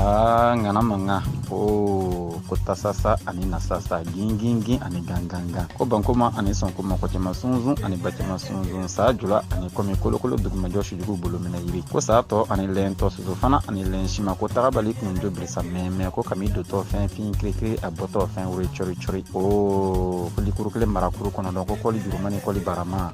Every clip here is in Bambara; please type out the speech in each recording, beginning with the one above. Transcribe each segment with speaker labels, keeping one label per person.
Speaker 1: Aa ŋana mankan o ko tasasa ani nasasa gingingin ani gangangan ko bankoma ani sɔnkoma kɔ cɛma sunsun ani ba cɛma sunsun sa jula ani kɔmi kolokolo dugumajɔ sujugu bolo minɛ yiri ko sa tɔ ani lɛn tɔ soso fana ani lɛn sima ko tagabali kun jo bilisa mɛmɛ ko kami dotɔ fɛn fin kirikiri a bɔtɔ fɛn woro cɔri cɔri o kolikuru kelen marakuru kɔnɔ dɔn ko koli juruma ni koli barama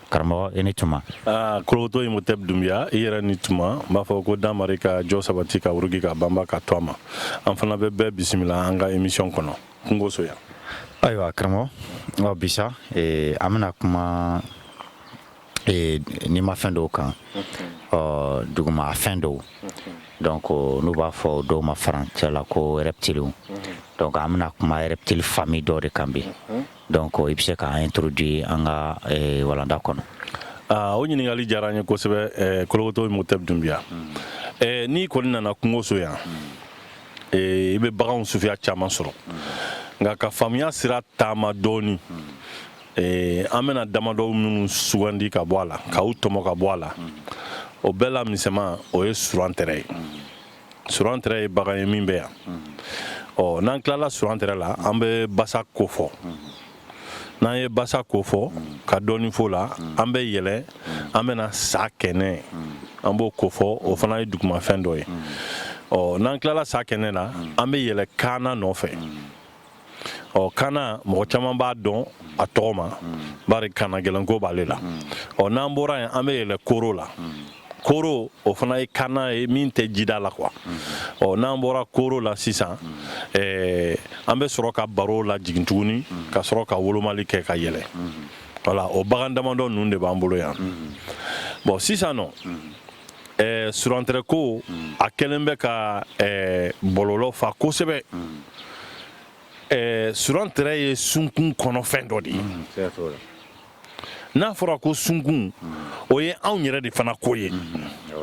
Speaker 1: karamɔgɔ i ni tuma ah, Kologoto
Speaker 2: Imhotep Dunbiya i yɛrɛ ni tuma n b'a fɔ ko damari ka jɔ sabati ka wurugi ka banba ka to a ma an fana bɛ bɛɛ bisimila an ka emisiyɔn kɔnɔ kungoso yan ayiwa
Speaker 1: karamɔgɔ ɔ bi sa eh, an bɛna kuma eh, nimafɛn dɔw kan ɔ duguma fɛn dɔw donc n'u b'a fɔ dɔw ma français la ko reptiliw donc an bɛna kuma reptile famille dɔ de kan bi Donc i bɛ se k'an introduire an ka walanda kɔnɔ o
Speaker 2: ɲininkakali diyara n ye kosɛbɛ Kologoto Imhotep Dunbiya n'i kɔni nana kungoso yan i bɛ bagan suguya caman sɔrɔ nka ka faamuya sira taama dɔɔnin an bɛna damadɔ minnu sugandi ka bɔ a la k'u tɔmɔ ka bɔ a la o bɛɛ la misɛnman o ye surantɛrɛ ye Surantɛrɛ ye bagan ye min bɛ yan ɔ n'an tilala surantɛrɛ la an bɛ basa kofɔ n'an ye basa kofɔ ka dɔɔnin fɔ a la an bɛ yɛlɛ an bɛna sakɛnɛ an b'o kofɔ o fana ye dugumafɛn dɔ ye ɔ n'an tilala sakɛnɛ na an bɛ yɛlɛ kaana nɔfɛ ɔ kaana mɔgɔ caman b'a dɔn a tɔgɔ ma bari kaana gɛlɛnko b'ale la ɔ n'an bɔra yen an bɛ yɛlɛ koro la koro o fana ye kaana ye min tɛ jida la quoi ɔ n'an bɔra koro la sisan eh, an bɛ sɔrɔ ka baro lajigin tuguni ka sɔrɔ ka wolomali kɛ ka yɛlɛ voilà o bagan damadɔ ninnu de b'an bolo yan bɔn sisan nɔ ɛɛ surantɛrɛ ko a kɛlen bɛ ka ɛɛ bɔlɔlɔ fa kosɛbɛ ɛɛ surantɛrɛ ye sunkun kɔnɔfɛn dɔ de ye n'a fɔra ko sunkun o ye anw yɛrɛ de fana ko ye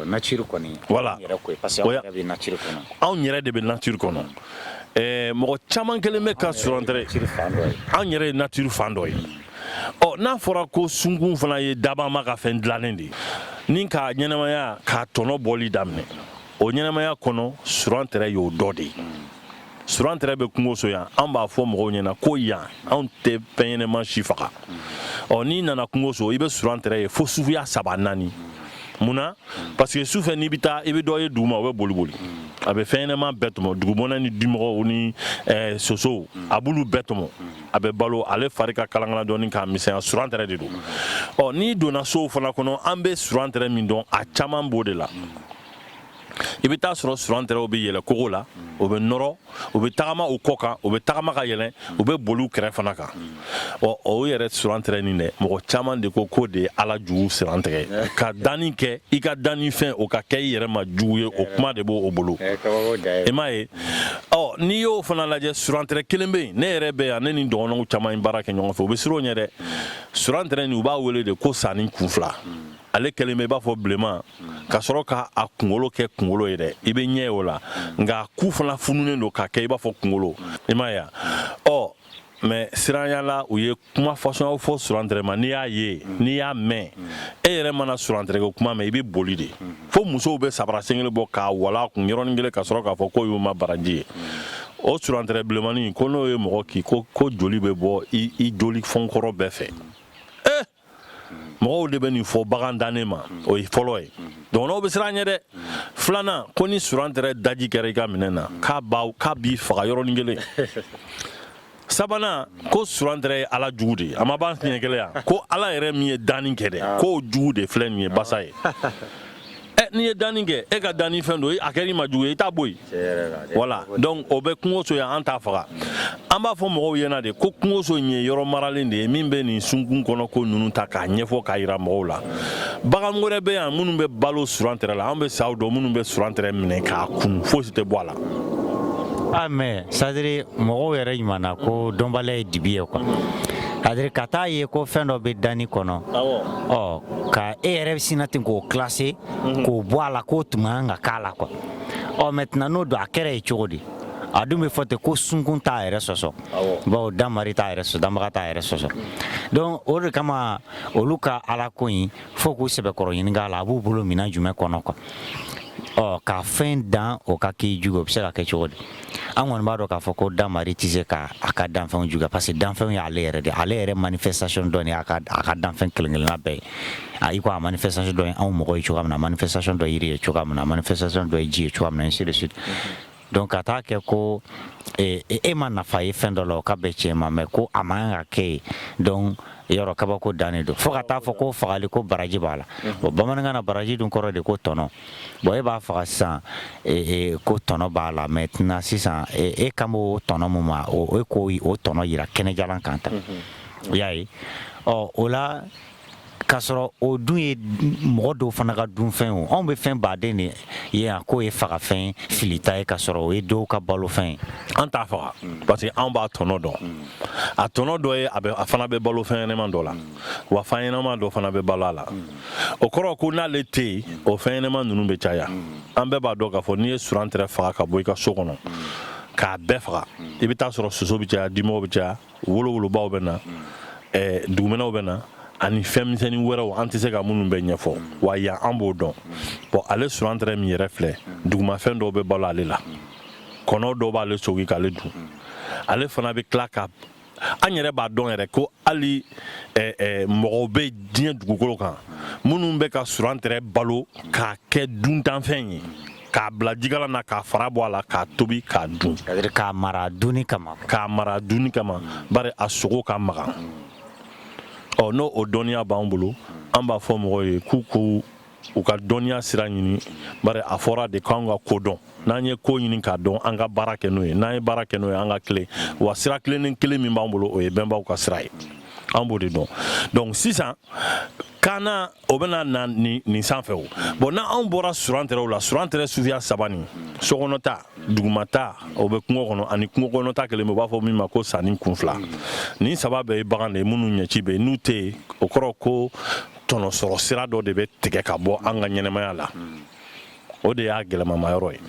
Speaker 2: nature
Speaker 1: kɔni voilà
Speaker 2: parce que anw yɛrɛ
Speaker 1: bɛ nature kɔnɔ anw yɛrɛ de bɛ nature
Speaker 2: kɔnɔ ɛɛ mɔgɔ caman kɛlen bɛ ka surantɛrɛ anw yɛrɛ ye nature fan dɔ ye ɔ n'a fɔra ko sunkun fana ye dabama ka fɛn dilannen de ye ni k'a ɲɛnamaya k'a tɔnɔ bɔli daminɛ o ɲɛnamaya kɔnɔ surantɛrɛ y'o dɔ de ye surantɛrɛ bɛ kungoso yan an b'a fɔ mɔgɔw ɲɛna ko yan anw tɛ fɛn ɲɛnama si faga ɔ n'i nana kungoso i bɛ surantɛrɛ ye fo suguya saba naani mun na parce que sufɛ n'i bɛ taa i bɛ dɔ ye duguma o bɛ boli boli a bɛ fɛn ɲɛnama bɛɛ tɔmɔ dugumɔnɛ ni dimɔgɔw ni eh, sosow a b'olu bɛɛ tɔmɔ a bɛ balo ale fari ka kalangana dɔɔni k'a misɛnya surantɛrɛ de don ɔ n'i donna sow fana kɔnɔ an bɛ surantɛrɛ min dɔn a caman b'o de la i bɛ taa sɔrɔ surantɛrɛw bɛ yɛlɛn kogo la o bɛ nɔrɔ u bɛ tagama u kɔ kan u bɛ tagama ka yɛlɛn u bɛ boli u kɛrɛ fana kan ɔ o yɛrɛ surantɛrɛ nin dɛ mɔgɔ caman de ko k'o de ye ala jugu surantɛrɛ ka danni kɛ i ka danni fɛn o ka kɛ i yɛrɛ ma jugu ye o kuma de b'u bolo i m'a ye ɔ n'i y'o fana lajɛ surantɛrɛ kelen bɛ yen ne yɛrɛ bɛ yan ne ni dɔgɔnɔw caman ye baara kɛ ɲɔgɔn fɛ u bɛ siran o ɲɛ dɛ surantɛrɛ nin u b'a wele de ko sanin kun fila ale kɛlen bɛ i b'a fɔ bilenman ka sɔrɔ ka a kunkolo kɛ kunkolo ye dɛ i bɛ ɲɛ ye o la nka a ku fana fununen don ka kɛ i b'a fɔ kunkolo i m'a ye ɔ mais siranya la u ye kuma fasɔnw fɔ surantɛrɛ ma n'i y'a ye n'i y'a mɛn e yɛrɛ mana surantɛrɛ kuma mɛn i bɛ boli de fo musow bɛ sabara sen kelen bɔ k'a wala kun yɔrɔnin kelen ka sɔrɔ k'a fɔ k'o y'u ma baraji ye o surantɛrɛ bilenmanin ko n'o ye mɔgɔ kin ko joli bɛ bɔ i joli fɔnkɔrɔ bɛɛ fɛ e mɔgɔw de bɛ nin fɔ bagan dannen ma o ye fɔlɔ ye dɔgɔnɔw bɛ siran a ɲɛ dɛ filanan ko ni surantɛrɛ daji kɛra i ka minɛn na k'a b'i faga yɔrɔnin kelen sabanan ko surantɛrɛ ye ala jugu de ye a ma b'an siɲɛ kelen yan ko ala yɛrɛ min ye danni kɛ dɛ ah. k'o jugu de filɛ nin ye basa ye eh, n'i ye danni kɛ e ka danni fɛn don a kɛr'i ma jugu ye i t'a bɔ yen voilà donc o bɛ kungoso yan an t'a faga an b'a fɔ mɔgɔw ɲɛna de ko kungoso in ye yɔrɔ maralen de ye min bɛ nin sunkun kɔnɔko ninnu ta k'a ɲɛfɔ k'a yira mɔgɔw la bagan wɛrɛ bɛ yan minnu bɛ balo surantɛrɛ la an bɛ saw dɔn minnu bɛ surantɛrɛ minɛ k'a kunu fosi tɛ bɔ a la
Speaker 1: A mais c'est-à-dire mɔgɔw yɛrɛ ɲuman
Speaker 2: na
Speaker 1: ko dɔnbaliya ye dibi ye quoi c'est-à-dire
Speaker 3: ka taa a ye ko fɛn dɔ bɛ danni kɔnɔ ɔ ka e yɛrɛ sinna ten k'o classer k'o bɔ a la k'o tun man kan ka k'a la quoi ɔ maintenant n'o don a kɛra yen cogo di a dun bɛ fɔ ten ko sunkun t'a yɛrɛ sɔsɔ bawo danmari t'a yɛrɛ sɔsɔ danbaga t'a yɛrɛ sɔsɔ donc o de kama olu ka ala ko in fo k'u sɛbɛkɔrɔ ɲininka la a b'u bolo minɛn jumɛn kɔnɔ quoi ɔ ka fɛn dan o ka k'i jugu o bɛ se ka kɛ cogo di an kɔni b'a dɔn k'a fɔ ko danmari tɛ se ka a ka danfɛnw juguya parce que danfɛnw ye ale yɛrɛ de ale yɛrɛ manifestation dɔ ye a ka danfɛn kelen-kelenna bɛɛ ye a i ko a manifestation dɔ ye anw mɔgɔ ye cogoya min na manifestation dɔ ye yiri ye cogoya min na manifestation dɔ ye ji ye cogoya min na ainsi de suite Donc ka taa a kɛ ko e ma nafa ye fɛn dɔ la o ka bɛ cɛ ma mɛ ko a man kan ka kɛ yen donc yɔrɔ kabako dannen don fo ka taa a fɔ ko fagali ko baraji b'a la bon bamanankan na baraji dun kɔrɔ de ko tɔnɔ bon e b'a faga sisan ko tɔnɔ b'a la maintenant sisan e kan bɛ o tɔnɔ min ma o e k'o tɔnɔ yira kɛnɛ jalan kan ta y'a ye ɔ o la k'a sɔrɔ o dun ye mɔgɔ dɔw fana ka dunfɛn o anw bɛ fɛn baden de ye yan k'o ye fagafɛn filita ye ka sɔrɔ o ye dɔw ka balofɛn ye an t'a faga
Speaker 2: parce que anw b'a tɔnɔ dɔn a tɔnɔ dɔ ye a fana bɛ balo fɛn ɲɛnɛma dɔ la wa fɛn ɲɛnɛma dɔ fana bɛ balo a la o kɔrɔ ko n'ale tɛ yen o fɛn ɲɛnɛma ninnu bɛ caya an bɛɛ b'a dɔn k'a fɔ n'i ye surantɛrɛ faga ka bɔ i ka so kɔnɔ k'a bɛɛ faga i bɛ taa sɔrɔ soso bɛ caya dimɔgɔ bɛ caya wolowolobaw bɛ na dugumɛnɛw bɛ na ani fɛn misɛnnin wɛrɛw an tɛ se ka minnu bɛɛ ɲɛfɔ wa yan an b'o dɔn bon ale surantɛrɛ min yɛrɛ filɛ dugumafɛn dɔw bɛ balo ale la kɔnɔ dɔw b'ale sogi k'ale dun ale fana bɛ tila ka an yɛrɛ b'a dɔn yɛrɛ ko hali mɔgɔw bɛ diɲɛ dugukolo kan minnu bɛ ka surantɛrɛ balo k'a kɛ duntanfɛn ye k'a bila jikalan na k'a fara bɔ a la k'a tobi k'a
Speaker 3: dun k'a mara dunni kama bari
Speaker 2: a sogo ka magan ɔ n'o o dɔnniya b'an bolo an b'a fɔ mɔgɔw ye k'u k'u ka dɔnniya sira ɲini bari a fɔra de k'an ka ko dɔn n'an ye ko ɲini k'a dɔn an ka baara kɛ n'o ye n'an ye baara kɛ n'o ye an ka tilen wa sira tilennen kelen min b'an bolo o ye bɛnbaw ka sira ye an b'o de dɔn donc sisan kaana o bɛna na nin sanfɛ o bon n'anw bɔra surantɛrɛw la surantɛrɛ suguya saba nin sokɔnɔta dugumata o bɛ kungo kɔnɔ ani kungokɔnɔta kelen bɛ u b'a fɔ min ma ko sanin kun fila nin saba bɛɛ ye bagan de ye minnu ɲɛci bɛ n'u tɛ yen o kɔrɔ ko tɔnɔsɔrɔ sira dɔ de bɛ tigɛ ka bɔ an ka ɲɛnɛmaya la o de y'a gɛlɛmamayɔrɔ ye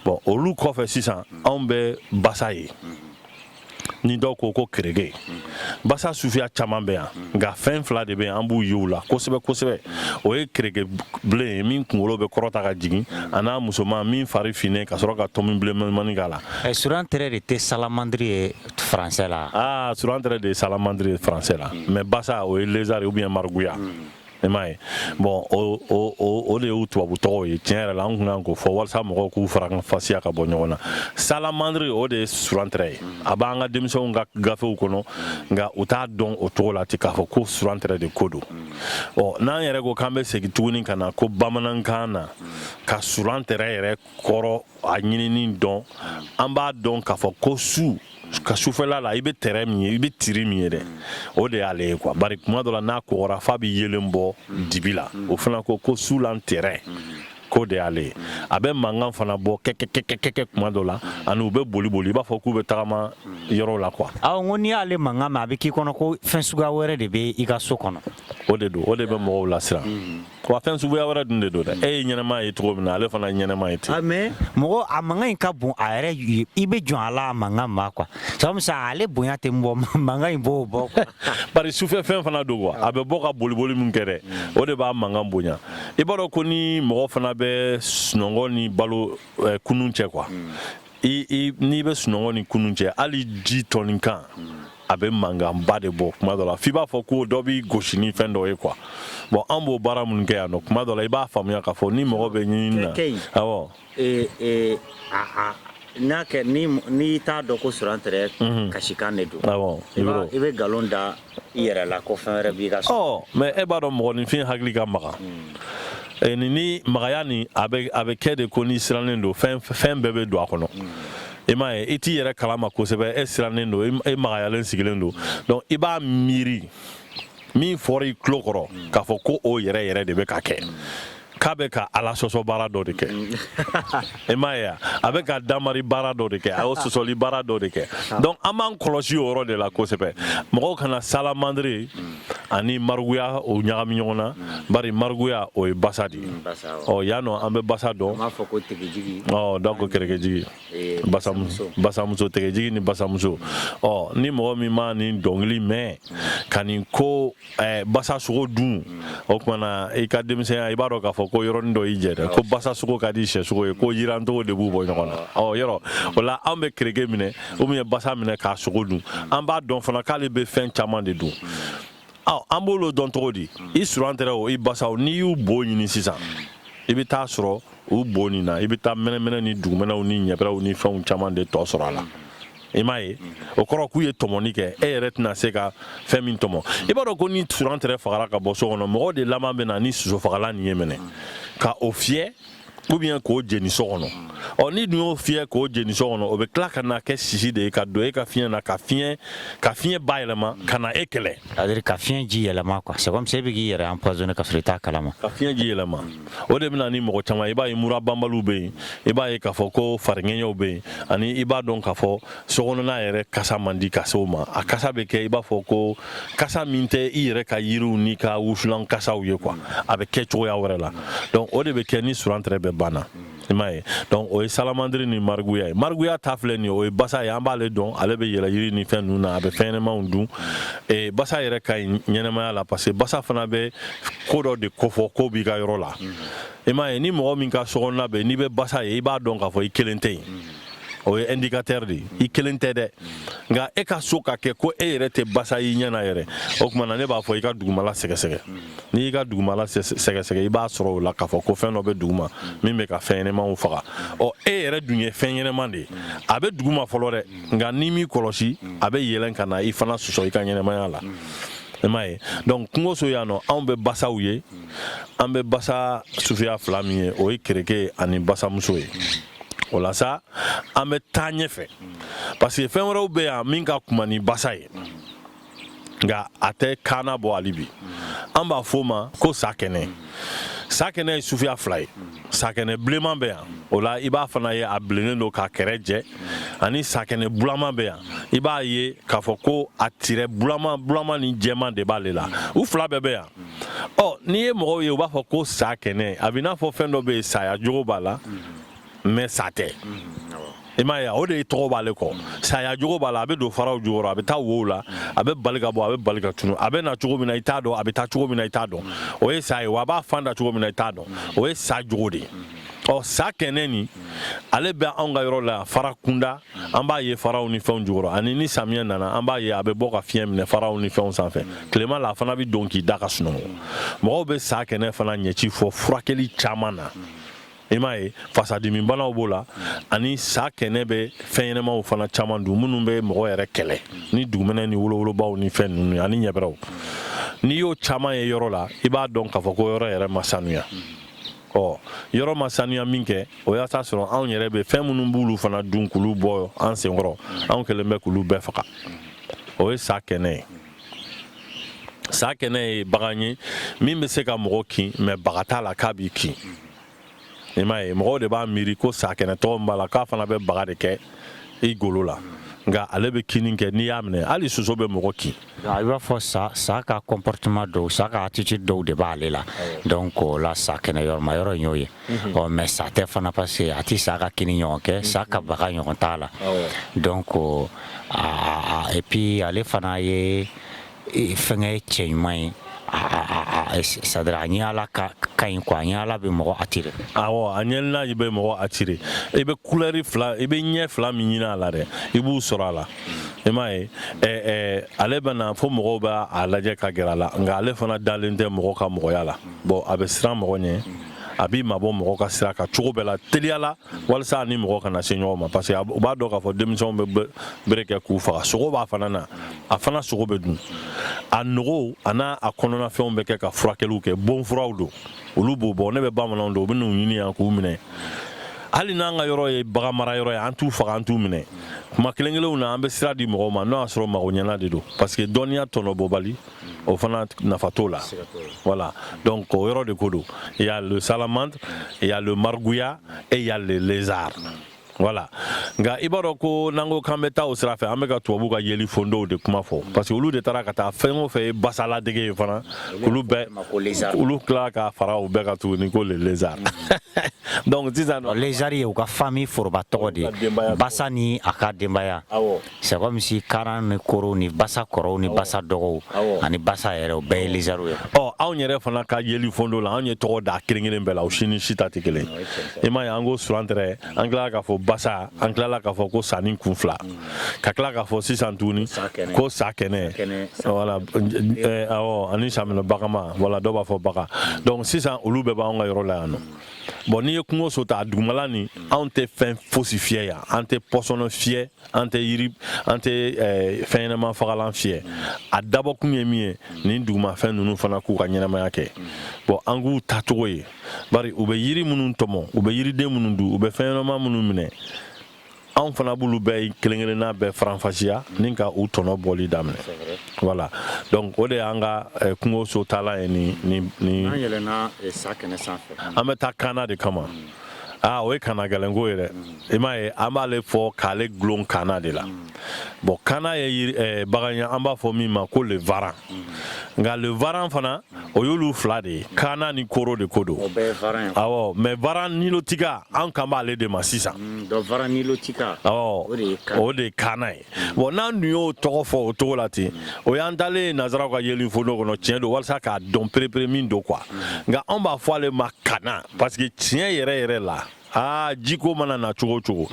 Speaker 2: bon olu kɔfɛ sisan anw bɛ basa ye ni dɔw ko ko kerege basa sufiya caman bɛ yan nka fɛn fila de bɛ an b'u ye u la kosɛbɛ kosɛbɛ o ye kerege bilen ye min kunkolo bɛ kɔrɔta ka jigin an'a musoman min fari finnen ka sɔrɔ ka tɔmi bilenmanin k'a la eh, surantɛrɛ de
Speaker 3: tɛ salamandiri ye français la aa ah, surantɛrɛ de ye salamandiri
Speaker 2: ye français la mais basa o ye lézard ou bien margouillat hmm. I m'a ye bon o de y'u tubabu tɔgɔw ye tiɲɛ yɛrɛ la an tun kan k'o fɔ walasa mɔgɔw k'u faranfasiya ka bɔ ɲɔgɔn na salamandiri o de ye surantɛrɛ ye a b'an ka denmisɛnw ka gafew kɔnɔ nka u t'a dɔn o cogo la ten k'a fɔ ko surantɛrɛ de ko don ɔ n'an yɛrɛ ko k'an bɛ segin tuguni ka na ko bamanankan na ka surantɛrɛ yɛrɛ kɔrɔ a ɲinini dɔn an b'a dɔn k'a fɔ ko su ka sufɛla la i bɛ tɛrɛ min ye i bɛ tiri min ye dɛ o de y'ale ye quoi bari kuma dɔ la n'a kɔgɔra f'a bɛ yeelen bɔ dibi la o fana ko ko sulantɛrɛ k'o de y'ale ye a bɛ mankan fana bɔ kɛkɛkɛkɛkɛ kuma dɔ la ani u bɛ boli boli i b'a fɔ k'u bɛ tagama yɔrɔw la quoi aw ko n'i y'ale mankan
Speaker 3: mɛn a bɛ k'i kɔnɔ ko fɛn suguya wɛrɛ de bɛ i ka so kɔnɔ o de don o de
Speaker 2: bɛ mɔgɔw lasiran Wa fɛn suguya wɛrɛ dun de don dɛ e ye ɲɛnɛma ye cogo min na ale fana ɲɛnɛma ye ten mais mɔgɔ a
Speaker 3: mankan in ka bon a yɛrɛ ye i bɛ jɔn a la a mankan ma quoi sabu sa ale bonya tɛ bɔ mankan in b'o bɔ quoi bari sufɛ fɛn
Speaker 2: fana don quoi a bɛ bɔ ka boliboli min kɛ dɛ o de b'a mankan bonya i b'a dɔn ko ni mɔgɔ fana bɛ sunɔgɔ ni balo eh, kunun cɛ quoi n'i bɛ sunɔgɔ ni kunun cɛ hali ji tɔni kan a bɛ mankanba de bɔ kuma dɔ la f'i b'a fɔ ko dɔ b'i gosi ni fɛn dɔ ye quoi bon an b'o baara minnu kɛ yan nɔ kuma dɔ la i b'a faamuya k'a fɔ ni mɔgɔ bɛ ɲinini na Kɛ in. awɔ Eh, eh, a, a,
Speaker 3: n'a kɛ ni n'i t'a dɔn ko surantɛrɛ kasikan de don awɔ i b'a- i bɛ nkalon da i yɛrɛ la ko fɛn wɛrɛ b'i ka so ɔ mais e b'a dɔn
Speaker 2: mɔgɔninfin hakili ka magan Eh, ni ni magaya nin a bɛ a bɛ kɛ de ko n'i sirannen don fɛn fɛn bɛɛ bɛ don a kɔnɔ e m'a ye i t'i yɛrɛ kalama kosɛbɛ e sirannen don e magayalen sigilen don donc i b'a miiri min fɔra i tulo kɔrɔ k'a fɔ ko o yɛrɛ yɛrɛ de bɛ ka kɛ k'a bɛ ka ala sɔsɔ baara dɔ de kɛ e m'a ye a bɛ ka damari baara dɔ de kɛ a y'o sɔsɔli baara dɔ de kɛ donc an b'an kɔlɔsi o yɔrɔ de la kosɛbɛ mɔgɔw kana salamandiri ani mariguya o ɲagami ɲɔgɔn na bari mariguya o ye basa de ye ɔ yan nɔ an bɛ basa dɔn donc kɛrɛkɛjigi basamuso tɛgɛjigi ni basamuso ɔ ni mɔgɔ min ma nin dɔnkili mɛn ka nin ko basa sogo dun o kuma na i ka denmisɛnya i b'a dɔn k'a fɔ ko yɔrɔnin dɔ y'i jɛ dɛ ko basa sogo ka di sɛ sogo ye ko jirancogo de b'u bɔ ɲɔgɔn na ɔ yɔrɔ o la an bɛ kɛrɛkɛ minɛ ou bien basa minɛ k'a sogo dun an b'a dɔn fana k'ale bɛ fɛn caman de dun an b'olu dɔn cogo di i surantɛrɛ o i basaw n'i y'u bo ɲini sisan i bɛ taa sɔrɔ u bo nin na i bɛ taa mɛnɛmɛnɛ ni dugumɛnɛw ni ɲɛbɛrɛw ni fɛnw caman de tɔ sɔrɔ a la i m'a ye o kɔrɔ k'u ye tɔmɔni kɛ e yɛrɛ tɛna se ka fɛn min tɔmɔ i b'a dɔn ko ni surantɛrɛ fagara ka bɔ so kɔnɔ mɔgɔ de laban bɛ na ni sosofagalan nin ye minɛ ka o fiyɛ ou bien k'o jeni so kɔnɔ ɔ n'i dun y'o fiyɛ k'o jeni so kɔnɔ o bɛ tila ka na kɛ sisi de ye ka don e ka fiɲɛ na ka fiɲɛ ka fiɲɛ bayɛlɛma ka na e kɛlɛ c'est-à-dire ka fiɲɛ ji
Speaker 3: yɛlɛma quoi c'est comme si e bɛ k'i yɛrɛ empoisonner ka sɔrɔ i t'a kalama ka fiɲɛ ji
Speaker 2: yɛlɛma o de bɛ na ni mɔgɔ caman i b'a ye mura banbaliw bɛ yen i b'a ye k'a fɔ ko fariŋɛɲɛw bɛ yen ani i b'a dɔn ka fɔ sokɔnɔna yɛrɛ kasa man di ka se o ma a kasa bɛ kɛ i b'a fɔ ko kasa min tɛ i yɛrɛ ka yiriw n'i ka wusulan kasaw ye quoi a bɛ kɛ cogoya wɛrɛ la donc o de bɛ kɛ ni surantɛrɛ bɛ banna i m'a ye donc o ye salamandiri ni mariguya ye mariguya ta filɛ nin ye o ye basa ye an b'ale dɔn ale bɛ yɛlɛ yiri ni fɛn ninnu na a bɛ fɛn ɲɛnɛmanw dun e, basa yɛrɛ ka ɲi ɲɛnɛmaya la parce que basa fana bɛ ko dɔ de kofɔ ko b'i ka yɔrɔ la i m'a ye ni mɔgɔ min ka sokɔnɔna bɛ n'i bɛ basa ye i b'a dɔn k'a fɔ i kelen tɛ yen o ye indicateur de ye i kelen tɛ dɛ nka e ka so ka kɛ ko e yɛrɛ tɛ basa y'i ɲɛ na yɛrɛ o tuma na ne b'a fɔ i ka dugumala sɛgɛsɛgɛ n'i y'i ka dugumala sɛgɛsɛgɛ i b'a sɔrɔ o la k'a fɔ ko fɛn dɔ bɛ duguma min bɛ ka fɛn ɲɛnɛmanw faga ɔ e yɛrɛ dun ye fɛn ɲɛnɛman de ye a bɛ duguma fɔlɔ dɛ nka n'i m'i kɔlɔsi a bɛ yɛlɛn ka na i fana sɔsɔ i ka ɲɛnɛmaya la i m'a ye donc kungoso yan nɔ anw bɛ basaw ye an bɛ basa suguya fila min ye o ye kereke ani basamuso ye o la sa an bɛ taa ɲɛfɛ parce que fɛn wɛrɛw bɛ yan min ka kunba ni basa ye nka a tɛ kaana bɔ hali bi an b'a fɔ o ma ko sakɛnɛ sakɛnɛ ye suguya fila ye sakɛnɛ bilenman bɛ yan o la i b'a fana ye a bilennen don k'a kɛrɛ jɛ ani sakɛnɛ bulaman bɛ yan i b'a ye k'a fɔ ko a tirɛ bulaman bulaman ni jɛman de b'ale la u fila bɛɛ bɛ yan ɔ n'i ye mɔgɔw ye u b'a fɔ ko sakɛnɛ a bɛ i n'a fɔ fɛn dɔ bɛ yen saya jogo b'a la mais sa tɛ i m'a ye o de ye tɔgɔ b'ale kɔ saya jogo b'a la a bɛ don faraw jukɔrɔ a bɛ taa wow la a bɛ bali ka bɔ a bɛ bali ka tunu a bɛ na cogo min na i t'a dɔn a bɛ taa cogo min na i t'a dɔn o ye sa ye wa a b'a fan da cogo min na i t'a dɔn o ye sa jogo de ye ɔ sakɛnɛ nin ale bɛ anw ka yɔrɔ la fara kunda an b'a ye faraw ni fɛnw jukɔrɔ ani ni samiya nana an b'a ye a bɛ bɔ ka fiɲɛ minɛ faraw ni fɛnw sanfɛ tilema la a fana bɛ don k'i da ka sunɔgɔ mɔgɔw bɛ sakɛnɛ fana ɲɛci fɔ furakɛli caman na i m'a ye fasadimibanaw b'o la ani sakɛnɛ bɛ fɛn ɲɛnɛmaw fana caman dun minnu bɛ mɔgɔ yɛrɛ kɛlɛ ni dugumɛnɛ ni wolowolobaw ni fɛn ninnu ani ɲɛbɛrɛw n'i y'o caman ye yɔrɔ la i b'a dɔn k'a fɔ ko yɔrɔ yɛrɛ ma sanuya ɔ yɔrɔ ma saniya minkɛ o y'a sɔrɔ anw yɛrɛ bɛ fɛn minnu b'olu fana dun k'olu bɔ an senkɔrɔ anw kɛlen bɛ k'olu bɛɛ faga o ye sakɛnɛ ye sakɛnɛ ye bagan ye min bɛ se ka mɔgɔ kin mais baga t'a la k'a b'i kin i m'a ye mɔgɔw de b'a miiri ko sakɛnɛ tɔgɔ min b'a la k'a fana bɛ baga de kɛ i golo la nka ale bɛ kinni kɛ n'i y'a minɛ hali soso bɛ mɔgɔ kin I b'a fɔ
Speaker 3: sa ka comportement dɔw sa ka attitude dɔw de b'ale la donc o la sakɛnɛ yɔrɔma yɔrɔ y'o ye ɔ mais sa tɛ fana parce que a tɛ sa ka kinni ɲɔgɔn kɛ sa ka baga ɲɔgɔn t'a la donc et puis ale fana ye fɛn ye cɛ ɲuman ye c'est-à-dire a ɲɛ a la ka ɲi quoi a ɲɛ a la bɛ mɔgɔ attirer dɛ a a ɲɛlaji
Speaker 2: bɛ mɔgɔ attirer i bɛ couleur fila i bɛ ɲɛ fila min ɲini a la dɛ i b'u sɔrɔ a la i m'a ye ale bɛ na fo mɔgɔw b'a lajɛ ka gɛrɛ a la nka ale fana dalen tɛ mɔgɔ ka mɔgɔya la bɔn a bɛ siran mɔgɔ ɲɛ a b'i mabɔ mɔgɔ ka sira kan cogo bɛɛ la teliya la walasa a ni mɔgɔ kana se ɲɔgɔn ma parce que u b'a dɔn k'a fɔ denmisɛnw bɛ bere kɛ k'u faga sogo b'a fana na a fana sogo bɛ dun a nugu a n'a kɔnɔnafɛnw bɛ kɛ ka furakɛliw kɛ bɔn furaw don olu b'o bɔ ne bɛ bamananw dɔn u bɛ n'u ɲini yan k'u minɛ hali n'an ka yɔrɔ ye bagan mara yɔrɔ ye an t'u faga an t'u minɛ kuma kelen kelenw na an bɛ sira di mɔgɔw ma n'o y'a sɔrɔ mago ɲɛna de don parce que dɔnniya tɔnɔbɔbali o fana nafa t'o la voilà donc o yɔrɔ de ko don il y a le salamandre il y a le margouillat et il y a le lézard voilà nka i b'a dɔn ko n'an ko k'an bɛ taa o sira fɛ an bɛ ka tubabuw ka yeli fondow de kuma fɔ parce que olu de taara ka taa fɛn o fɛn ye basaladege ye fana olu bɛɛ olu tila ka fara u bɛɛ kan tuguni ko le lézard donc sisan lézard ye u ka
Speaker 3: famille foroba tɔgɔ de ye basa ni a ka denbaya c'est comme si kaana ni koro ni basa kɔrɔw ni basa dɔgɔw ani basa yɛrɛ bɛɛ ye lézard ye ɔ anw yɛrɛ fana
Speaker 2: ka yeli fondo la anw ye tɔgɔ da kelen kelen bɛɛ la u si ni si ta tɛ kelen i m'a ye an ko surantrɛ an tilala k'a fɔ basa an tilala k'a fɔ ko sanin kun fila ka tila k'a fɔ sisan tuguni ko sakɛnɛ ani sa bagama voilà dɔw b'a fɔ baga donc sisan olu bɛɛ b'an ka yɔrɔ la yan nɔ bon n'i ye kungo so ta a dugumala ni anw tɛ fɛn fosi fiyɛ yan an tɛ pɔsɔnɔ fiyɛ an tɛ yiri an tɛ eh, fɛn ɲɛnama fagalan fiyɛ a dabɔkun ye min ye nin dugumafɛn ninnu fana k'u ka ɲɛnamaya kɛ bon an k'u tacogo ye bari u bɛ yiri minnu tɔmɔ u bɛ yiriden minnu dun u bɛ fɛn ɲɛnama minnu minɛ anw fana b'olu bɛɛ kelen kelenna bɛɛ faranfasiya ni ka u tɔnɔ bɔli daminɛ voilà donc o de y'an ka eh, kungo so taala ye ni ni ni an yɛlɛnna
Speaker 3: eh, sakɛnɛ sanfɛ an bɛ taa kaana de
Speaker 2: kama aa o ye kana gɛlɛnko ye dɛ i m'a ye an b'ale fɔ k'ale gulon kana de la bon kana ye eh, bagan ye an b'a fɔ min ma ko le varan nka le varan fana o y'olu fila de ye kana ni koro de ko don awɔ mais varan nilotika an kan b'ale de ma sisan mm,
Speaker 3: awɔ o
Speaker 2: de ye kana ye bon n'an dun y'o tɔgɔ fɔ o cogo la ten o y'an taalen ye nazaraw ka yeli fondo kɔnɔ tiɲɛ don walasa k'a dɔn perepere min don quoi nka anw b'a fɔ ale ma kana parce que tiɲɛ yɛrɛ yɛrɛ la aa jiko mana na cogo o cogo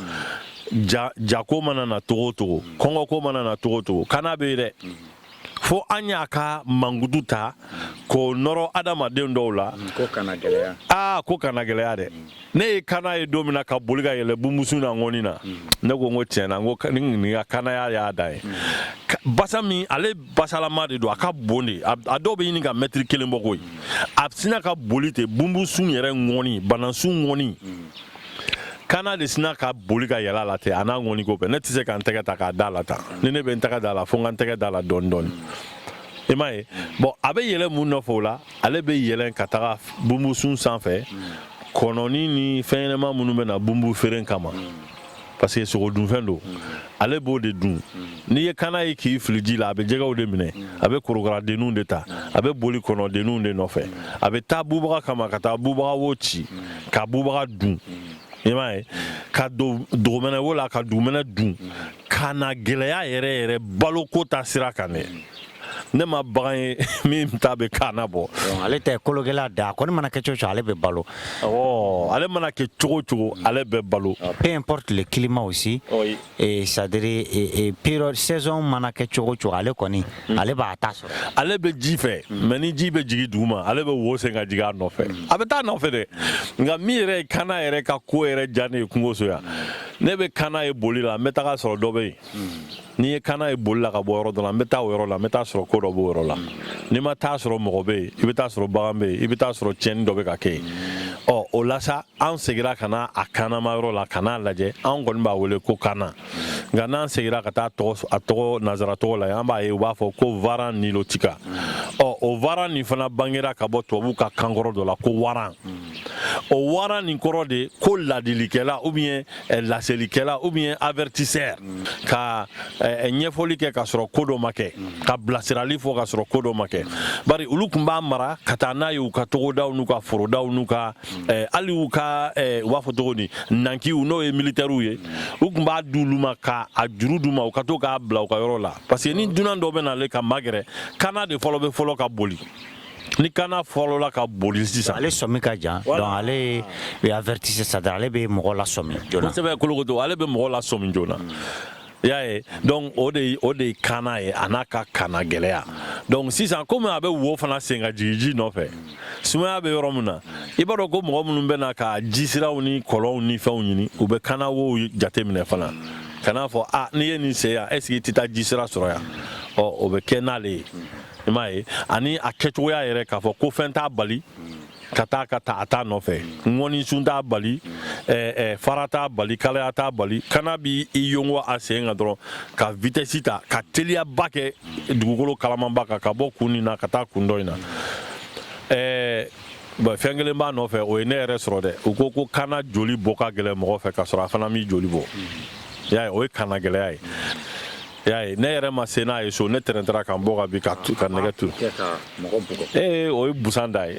Speaker 2: jako mana na cogo o cogo kɔngɔko mana na cogo o cogo kana bɛ yen dɛ fo an y'a ka mankutu ta k'o nɔrɔ adamaden dɔw la mm, ko kana gɛlɛya
Speaker 3: aa ko kana gɛlɛya
Speaker 2: dɛ mm. ne ye kana ye don min na ka boli ka yɛlɛ bumbusun na ŋɔni na mm. ne ko n ko tiɲɛ na n ko nin ka kanaya y'a dan ye basa min ale basalama de don a ka bon dɛ a dɔw bɛ ɲini ka mɛtiri kelen bɔ koyi a sina ka boli ten bumbusun yɛrɛ ŋɔni banansun ŋɔni kana de sina ka boli ka yɛlɛ a la ten a n'a ŋɔni ko bɛɛ ne tɛ se ka n tɛgɛ ta k'a da la tan ni ne bɛ n tɛgɛ da la fo n ka n tɛgɛ da la dɔɔni dɔɔni i m'a ye bon a bɛ yɛlɛ mun nɔfɛ o la ale bɛ yɛlɛ ka taga bumbusun sanfɛ kɔnɔni ni fɛn ɲɛnama minnu bɛ na bumbu feere kama parce que sogodunfɛn don ale b'o de dun n'i ye kana ye k'i fili ji la a bɛ jɛgɛw de minɛ a bɛ korokaradenninw de ta a bɛ boli kɔnɔdenninw de nɔfɛ a bɛ taa bubaga kama ka taa bubaga wo ci ka bubaga dun i m'a ye ka don dugumɛnɛ wo la ka dugumɛnɛ dun kana gɛlɛya yɛrɛ yɛrɛ baloko ta sira kan dɛ ne ma bagan ye min ta bɛ kana bɔ ale tɛ
Speaker 3: kolokɛla da a kɔni mana kɛ cogo cogo ale bɛ balo ale
Speaker 2: mana kɛ cogo cogo ale bɛ balo peu importe
Speaker 3: le climat aussi c'est-à-dire peu saison mana kɛ cogo cogo ale kɔni hmm. ale b'a ta sɔrɔ ale bɛ ji
Speaker 2: fɛ hmm. mais ni ji bɛ jigin dugu ma ale bɛ wo sen ka jigin a nɔfɛ hmm. a bɛ taa nɔfɛ dɛ nka min yɛrɛ ye kana yɛrɛ ka ko yɛrɛ diya ne ye kungoso yan ne bɛ kana ye boli la n bɛ taga sɔrɔ dɔ bɛ yen n'i ye kana ye boli la ka bɔ yɔrɔ dɔ la n bɛ taa o yɔrɔ la n bɛ taa sɔrɔ ko dɔ b'o yɔrɔ la n'i ma taa sɔrɔ mɔgɔ bɛ yen i bɛ taa sɔrɔ bagan bɛ yen i bɛ taa sɔrɔ tiɲɛni dɔ bɛ ka kɛ yen ɔ o la sa an segira ka na a kanama yɔrɔ la ka n'a lajɛ an kɔni b'a wele ko kana nka n'an segira ka taa a tɔgɔ nazara tɔgɔ la an b'a ye u b'a fɔ ko varan nilotika ɔ o varan nin fana bangera ka bɔ tubabuw ka kankɔrɔ dɔ la ko waran o waran nin kɔrɔ de ko ladilikɛla ou bien eh, laselikɛla ou bien avertisseur ka eh, eh, ɲɛfɔli kɛ ka sɔrɔ ko dɔ ma kɛ ka bilasirali fɔ ka sɔrɔ ko dɔ ma kɛ bari olu tun b'a mara ka taa n'a ye u ka togodaw n'u ka forodaw n'u ka hali u ka u b'a fɔ cogo di nankiw n'o ye militɛriw ye u tun b'a di olu ma ka a juru d'u ma u ka to k'a bila u ka yɔrɔ la parce que ni dunan dɔ bɛ na ale ka magɛrɛ kana de fɔlɔ bɛ fɔlɔ ka boli ni kana fɔlɔla ka boli sisan ale sɔmi ka
Speaker 3: jan donc ale bɛ avertisseur c'est-à-dire ale bɛ mɔgɔ lasɔmi joona kosɛbɛ kolokoto ale bɛ
Speaker 2: mɔgɔ lasɔmi joona y'a ye donc o de ye kana ye a n'a ka kana gɛlɛya donc sisan komi a bɛ wo fana sen ka jigin ji nɔfɛ sumaya bɛ yɔrɔ min na i b'a dɔn ko mɔgɔ minnu bɛ na ka jisiraw ni kɔlɔnw ni fɛnw ɲini u bɛ kana wow jateminɛ fana ka n'a fɔ a ah, n'i ye nin sen yan est ce que i tɛ taa jisira sɔrɔ yan ɔ o bɛ kɛ n'ale ye i m'a ye ani a kɛcogoya yɛrɛ k'a fɔ ko fɛn t'a bali ka taa ka taa a t'a nɔfɛ ŋɔnisun t'a bali eh, eh, fara t'a bali kalaya t'a bali kana b'i yongo a sen kan dɔrɔn ka vitesse ta ka teliyaba kɛ dugukolo kalamanba kan ka bɔ kun nin na ka taa kun dɔ in na eh, bon, fɛn kelen b'a nɔfɛ o ye ne yɛrɛ sɔrɔ dɛ u ko ko kana joli bɔ ka gɛlɛn mɔgɔ fɛ ka sɔrɔ a fana m'i joli bɔ y'a ye o ye kana gɛlɛya ye y'a ye ne yɛrɛ ma se n'a ye so ne tɛrɛntɛra ka n bɔ ka bin ka ka nɛgɛ turu ee o ye busan da ye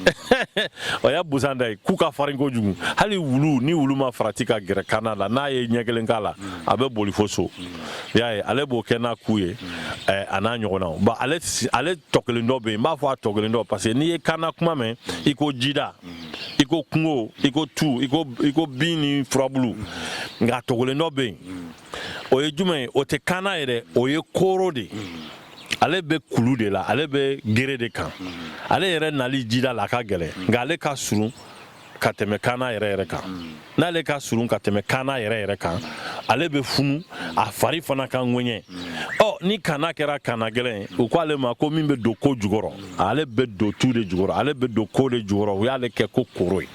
Speaker 2: o y'a busan da ye ku ka farin kojugu hali wulu ni wulu ma farati ka gɛrɛ kaana la n'a ye ɲɛ kelen k'a la a bɛ boli fo so y'a ye ale b'o kɛ n'a ku ye eh, a n'a ɲɔgɔnnaw ba ale si- ale tɔ kelen dɔ bɛ yen n b'a fɔ a tɔ kelen dɔ parce que n'i ye kaana kuma mɛn i ko jida i ko kungo i ko tu i ko i ko bin ni furabulu nka a tɔ kelen dɔ bɛ yen o ye jumɛn ye o tɛ kaana yɛrɛ o ye kooro de ye ale bɛ kulu de la ale bɛ gere de kan ale yɛrɛ nali jida la a ka gɛlɛn nka ale ka surun ka tɛmɛ kaana yɛrɛ yɛrɛ kan n'ale ka surun ka tɛmɛ kaana yɛrɛ yɛrɛ kan ale bɛ funu a fari fana ka ŋɛɲɛ ɔ ni kaana kɛra kaana gɛlɛn u ko ale ma ko min bɛ don ko jukɔrɔ ale bɛ don tu de jukɔrɔ ale bɛ don ko de jukɔrɔ u y'ale kɛ ko koro ye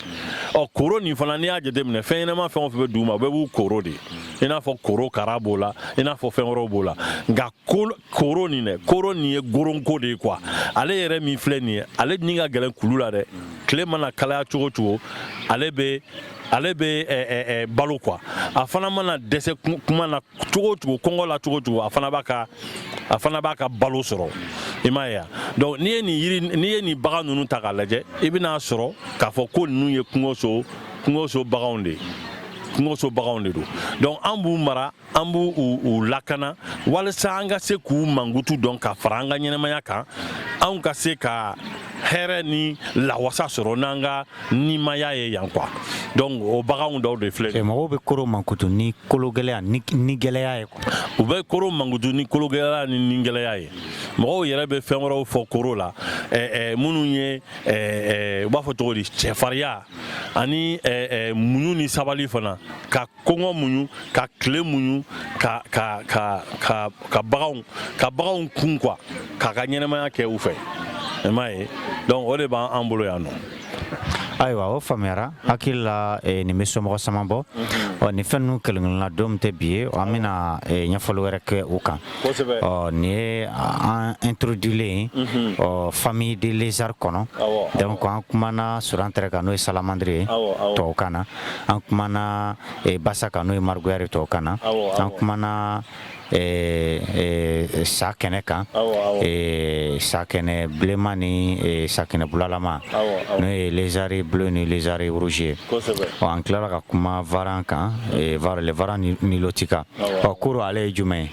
Speaker 2: ɔ koro nin fana n'i y'a jateminɛ fɛn ɲɛnama fɛn o fɛn bɛ dugu ma bɛɛ b'u koro de i n'a fɔ korokara b'o la i n'a fɔ fɛn wɛrɛw b'o la nka koro nin dɛ koro nin ye goronko de ye quoi ale yɛrɛ min filɛ nin ye ale ni ka gɛlɛn kulu la dɛ tile mana kalaya cogo o cogo ale bɛ ale bɛ balo quoi a fana mana dɛsɛ kuma na cogo o cogo kɔngɔ la cogo o cogo a fana b'a ka a fana b'a ka balo sɔrɔ i m'a ye donc n'i ye nin yiri n'i ye nin bagan ninnu ta k'a lajɛ i bɛn'a sɔrɔ k'a fɔ ko ninnu ye kungoso kungoso baganw de ye kungoso baganw de don donc an b'u mara an b'u lakana walasa an ka se k'u mankutu dɔn ka fara an ka ɲɛnamaya kan anw ka se ka hɛrɛ ni lawasa sɔrɔ n'an ka nimaya ye yan quoi donc o baganw dɔw de filɛ mɔgɔw bɛ koro
Speaker 3: mankutu ni kologɛlɛya ni gɛlɛya ye u bɛ koro
Speaker 2: mankutu ni kologɛlɛya ni nigɛlɛya ye mɔgɔw yɛrɛ bɛ fɛn wɛrɛw fɔ koro la minnu ye u b'a fɔ cogo di cɛfariya ani muɲu ni sabali fana ka kɔngɔ muɲu ka tile muɲu ka ka ka ka ka baganw ka baganw kun quoi k'a ka ɲɛnamaya kɛ u fɛ i m'a ye donc o de b'an an bolo yan nɔ ayiwa
Speaker 3: o faamuyara hakili la eh, nin bɛ somɔgɔ caman bɔ mhm. ɔ nin fɛn ninnu kelenkelenna don tɛ bi ye an bɛna eh, ɲɛfɔli wɛrɛ kɛ u kan ɔ nin ye an introduilen mhm. ɔ famille de lézard kɔnɔ donc an kumana surantɛrɛ kan n'o ye salamandre ye tubabukan na an kumana eh, basa kan n'o ye margouillat de ye tubabukan na an kumana eh, eh, sakɛnɛ kan eh, sakɛnɛ bilenman ni eh, sakɛnɛ bulalama n'o ye lézard bleu ni lézard rouge ye ɔ an tilala ka kuma varan kan eh, var- le varan ni- nilotika ɔ koro ale ye jumɛn ye